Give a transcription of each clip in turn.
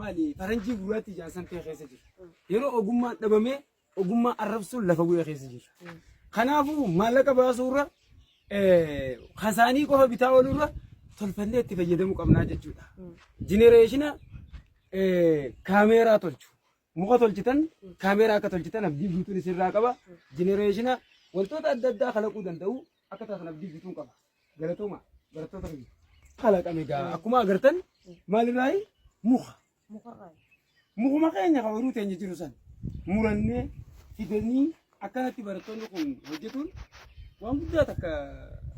Maali faranjii gurraatti ijaan san ta'e keessa jiru. Yeroo ogummaan dhabamee ogummaa arrabsuun lafa bu'ee keessa jiru. Kanaafuu maallaqa baasuurra eh, kasaanii qofa bitaa oolurra tolfannee itti fayyadamuu qabnaa jechuudha. Jinereeshina eh, kaameeraa tolchu. Muka tolchitan kaameeraa akka tolchitan abdii guutuun isinirraa qaba. Jinereeshina wantoota adda addaa kalaquu danda'u akka taatan abdii guutuun qaba. Galatooma barattoota keenya. Kalaqame egaa akkuma agartan maalirraayi muka. Mukuma keenya kan horuu teenya jiru san murannee fidanii akkanatti barattoonni kun hojjetuun waan guddaa takka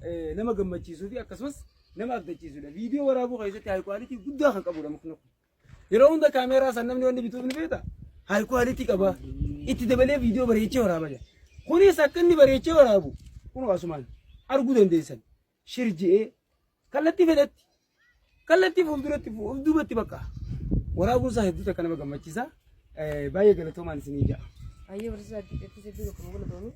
eh, nama gammachiisuu fi akkasumas nama abdachiisudha. Viidiyoo waraabuu keessatti haayi kwaalitii guddaa kan qabudha mukni kun. Yeroo hunda kaameeraa san namni wanni bituuf ni beekta. Haay kuwaalitii qaba. Itti dabalee viidiyoo bareechee waraaba jira. Kunis akka inni bareechee waraabu kunoo asumaan arguu dandeessan. Shir je'ee kallattii fedhetti kallattii fuulduratti fuulduubatti bakka waraabuun isaa hedduu takka nama gammachiisa. Baay'ee galatoomaan isinii ja'a. Ayyee barsiisaa adda addaatti hedduu tokko nama galatoomi.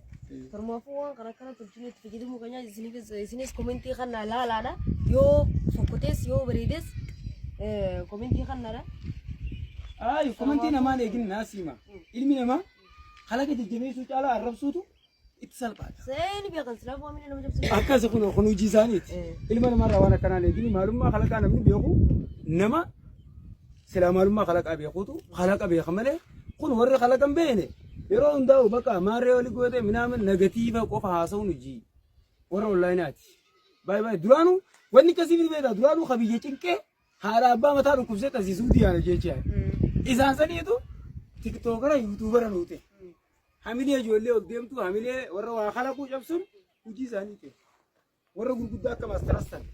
Tormaafuu waan kana kana tolchinu itti fayyadamuu keenyaa isinis isinis komentii kana laalaadha. Yoo fokkotees yoo bareedes eh, komentii kanaadha. Ayi komentii namaan eegin naas hima. Ilmi namaa kalaqa jajjabeessuu caalaa arrabsuutu itti salphaadha. Seeni beekan silaa foomina nama jabsatu. Akkas kun kun hojii isaaniiti. Ilma namarraa waan akkanaa leegini maalummaa kalaqaa namni beeku nama silaa maalummaa kalaqaa beekuutu kalaqa beeka malee kun warri kalaqan beene yeroo hundaa'u bakka maarree oli gootee minaamin negatiiva qofa haasa'uun hojii warra onlaayinaati. Baay'ee baay'ee duraanuu wanni akkasii miti beektaa duraanuu ka biyya cinqee Haadha abbaa mataa dhukkubsee taasisuu diyaana jecha. Isaan saniitu tiktookara yuutuubara nuu ta'e. Hamilee ijoollee ol deemtu hamilee warra waa kalaquu cabsuun hojii isaanii ta'e. Warra gurguddaa akka maastaras ta'e.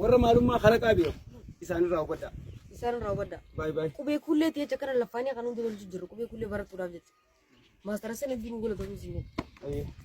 Warra maalummaa kalaqaa beeku isaanirraa hubadhaa. Isaan raawwadha. Baay baay. Qubee kuullee ta'ee jecha kana laffaanii akka nuti tolchu jirru qubee kuullee barachuudhaaf jecha. Maastara sana ittiin gola ta'uu isin jedhu. Ayyee.